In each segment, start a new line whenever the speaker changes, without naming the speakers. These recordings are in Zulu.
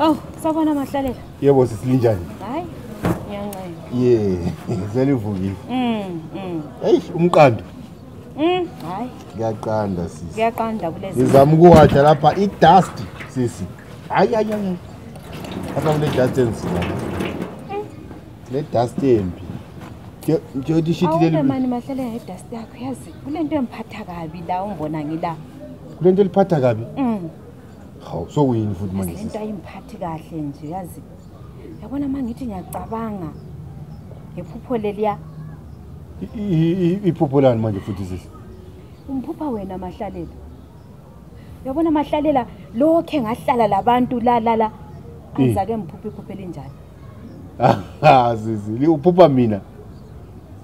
Oh, sabona mahlalela. Yebo sisilinjani?
Hayi.
Ngiyancela. Yeah,
selivukile. Mm, mm. Hey, umqando.
Mm, hayi. Ngiyaqanda
sisi. Ngiyaqanda kulezi. Ngizama
ukuwaja lapha
i dust sisi. Hayi hayi hayi. Apha kune dust enzima. Le dust embi. Nje uthi shit leli. Awume mani mahlale nge dust
yakho yazi. Kunento emphatha kabi la ungibona ngila. Kunento eliphatha
kabi? Mm. Hawu so uyini futhi manje? Into ayimphathi
kahle nje yazi. yabona uma ngithi ngiyacabanga ngephupho leliya
iphupho lani manje futhi sisi umphupha
wena mahlalela yabona mahlalela lokhe ngahlala labantu la la la angizake ngiphuphe iphuphe linjani ah, ah sisi
liuphupha mina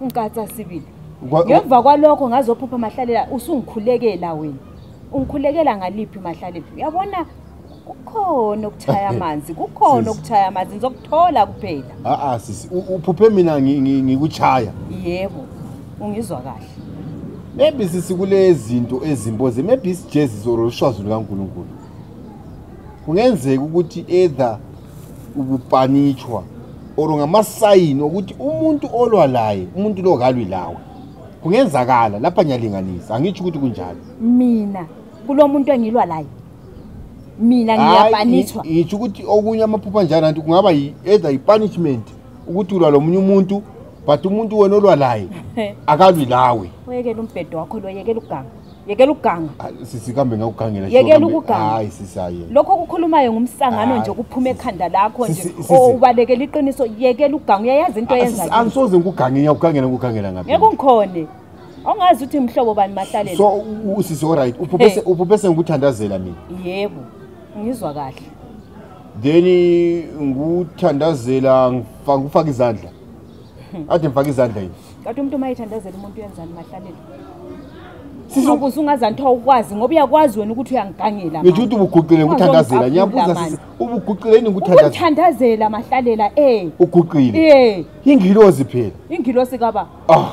Ungikatsa
sibili. Ngemva kwalokho ngazophupha mahlalela usungikhulekela wena. Ungikhulekela ngaliphi mahlalela? Uyabona kukhona okuthaya amanzi kukhona okuthaya amanzi ngizokuthola kuphela a a sisi uphuphe
mina ngikuchaya yebo
ungizwa kahle maybe
sisi kulezinto ezimboze maybe isijezi zoro ushwazi lukaNkuluNkulu kungenzeka ukuthi either ukupanitshwa or ngamasayini okuthi umuntu olwa laye umuntu lo kalwi lawe kungenzakala lapha ngiyalinganisa angitsho ukuthi kunjalo mina
kulo muntu engilwa laye mina ngiyapanitshwa ngitsho ukuthi okunye
amaphupha njalo nanti kungaba either i-punishment ukuthi ulwa lo munye umuntu but umuntu wena olwa laye akalwi lawe oyekela umbhedo wakho
lo yekela uganga yekela ukuganga ah, sisi kambe
ngakugangela yekela ukuganga hayi
sisi hayi lokho
kukhulumayo
ngumsangano nje kuphuma ekhanda lakho nje ubalekela iqiniso yekela ukuganga uyayazi into ah, yenza angisoze ngikuganga
ngiyakugangela ngikugangela ngapi ngeke ungikhone
awungazi ukuthi mhlobo bani mahlalela so usisi all
right uphuphe uphuphe sengikuthandazela mina yebo
ngizwa kahle then
ngikuthandazela ngifaka izandla ade mfaka izandla yini kade umuntu uma ethandazela
umuntu uyenzani mahlalelo sizokuze ungazanthi awukwazi ngoba uyakwazi wena ukuthi uyangigangela ngisho ukuthi ubuguqile
ngikuthandazela ngiyabuza sisi ubuguqile yini ngikuthandazela mahlalela
eh uguqile
eh ingilozi phela ingilosi kaba
ah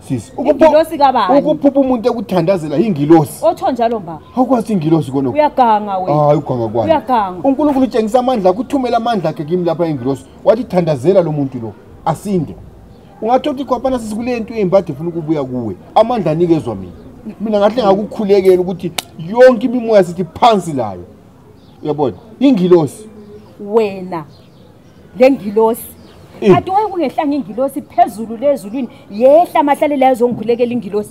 sisi ingilosi kaba
ukuphupha umuntu ekuthandazela
ingilosi otho njalo mba
awukwazi ingilosi kono
uyaganga wena hayi
uganga kwayo uyaganga
uNkulunkulu
utshengisa amandla
akuthumela amandla akhe kimi lapha ingilosi wathi thandazela lo muntu lo asinde ungathi othi khwaphana sisikule nto embi ade funa ukubuya kuwe amandla anikezwa mina mina ngahle ngakukhulekela ukuthi yonke imimoya sithi phansi layo uyabona ingilosi wena
le ngilosi kati waye kungehlanga ingilosi phezulu lezulwini yehla mahlale layo zongikhulekela ingilosi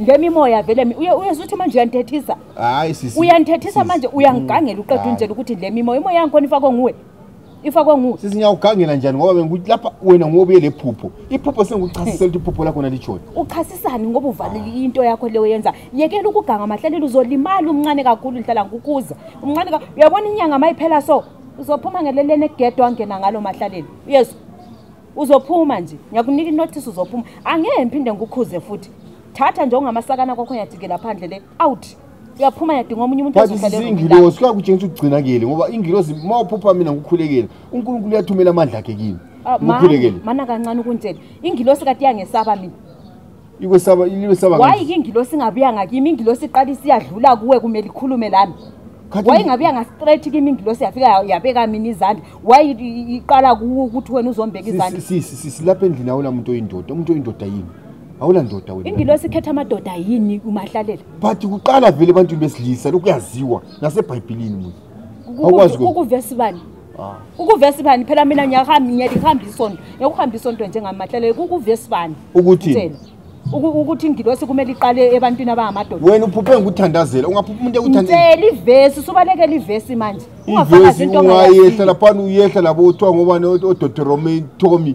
ngemimoya vele uyezuthi manje uyantethisa hayi sisi
uyantethisa manje
uyangigangela mm. uqeda unjela ukuthi le mimoya imoya yangikhona ifakwe nguwe ifakwe nguwe sisi ngiyawugangela njani
ngoba bengikuthi lapha wena ngobuye le phupho iphupho sengikuchasisela ukuthi iphupho lakho nalitshoni uchasisani ngoba
uvalile into yakho leyo yenza yekela ukuganga amahlelelo uzolimala umncane kakhulu ngihlala ngikukuza umncane uyabona inyanga mayiphela so uzophuma ngeleleni egedwa angena ngalo mahlaleli uyezwa uzophuma nje ngiyakunika inothisi uzophuma angeke ngiphinde ngikukhuze futhi thatha nje ungamasakana kwakho yajikela phandle le out uyaphuma yadinga omunye umuntu ozohlalezingilosi
kuyakutshengisa ukugcina kuyele ngoba ingilosi uma uphupha mina ngikukhulekele unkulunkulu uyathumela amandla akhe kimi ah,
ngikhulekele
mana
kancane ukuntshela
ingilosi
kati
yangesaba
mina
Ikwesaba iliwesaba ngani? Why
ingilosi ingabuya ngakimi ingilosi iqala isiyadlula kuwe kumele ikhulume lami. Why ingabuya nga straight kimi ingilosi yafika yabeka mina izandla. Why iqala kuwe ukuthi wena uzombeka izandla? Sisi sisi lapha endlini
awula umuntu oyindoda. Umuntu oyindoda yini? Awula ndoda wena. Ingilosi ikhetha amadoda
yini umahlalela? But kuqala
vele abantu besilisa lokuyaziwa naseBhayibhelini. ukuvesi bani
ah. ukuvesi bani phela mina ngiyahamba ngiyalihamba isonto ngiyakuhamba isonto njengamahlele ukuvesi bani ukuthi ukuthi ingilosi kumele iqale ebantwini abangamadoda wena uphuphe ngikuthandazela
ungaphupha umuntu ekuthandazela ivesi usubalekela
ivesi manje ungafakazi into
ungayehla laphana uyehla labo kuthiwa ngobani odotoromain tommy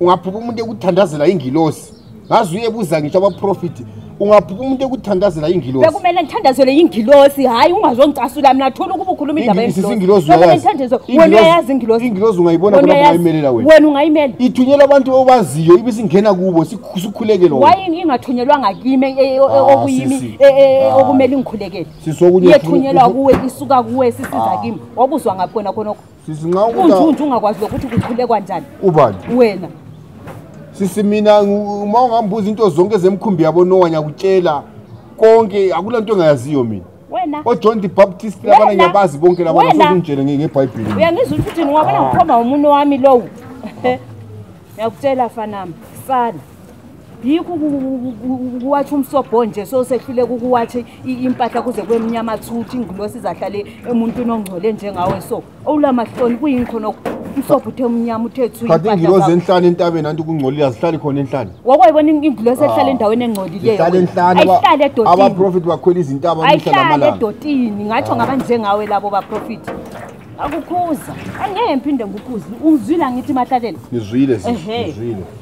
ungaphupha umuntu ekuthandazela ingilosi ngaze uyebuza ngisho abaprofiti ungaphupha umuntu ekuthandazela ingilosi bekumele ngithandazele
ingilosi hhayi ungazongicasula mina thola ukuba ukhuluma indaba ingilosi ungayibona
bona ungayimelela wena wena ungayimela
ithunyela abantu
obaziyo ibe singena kubo sikhuleke lona wayini ingathunyelwa
ngakimi e- e- e- ah, okuyimi ah. okumele ingikhulekele yethunyelwa kuwe isuka kuwe sisiza ah. kimi wabuzwa ngakho khona khonokho sisi nxa unjunju
ungakwazi lokuthi
kukhulekwa njani ubani wena sisi
mina uma ungambuza into zonke zemkhumbi yabo nowa ngiyakutshela konke akula nto engayaziyo mina wena ojohn the
baptist
labana ngiyabazi bonke laba nasokunjele ngebhayibheli uyangizwa ukuthi ngiwabona
ngikhomba umuntu wami lowo ngiyakutshela fanami sana yikho ukuwatsha umsobho nje so sehluleka ukuwatsha impahla kuze kwemnyama thuthi ingilosi izahlale emuntwini ongcole njengawe so owula mahloni kuyini khona umsobho uthe umnyama uthe thukati ingilosi enhlani
entabeni anti kungcolile azihlali khona enhlani wakwayibona ingilosi
ehlala ah, endaweni engcolileyoahlale edotiniabaprofethi bakhwela
izintaba ayihlale edotini ngatsho
ngaba njengawe labo baprofethi akukhuza angeke ngiphinde ngikhuze ungizwile angithi mahlalela ngizwile ngizwile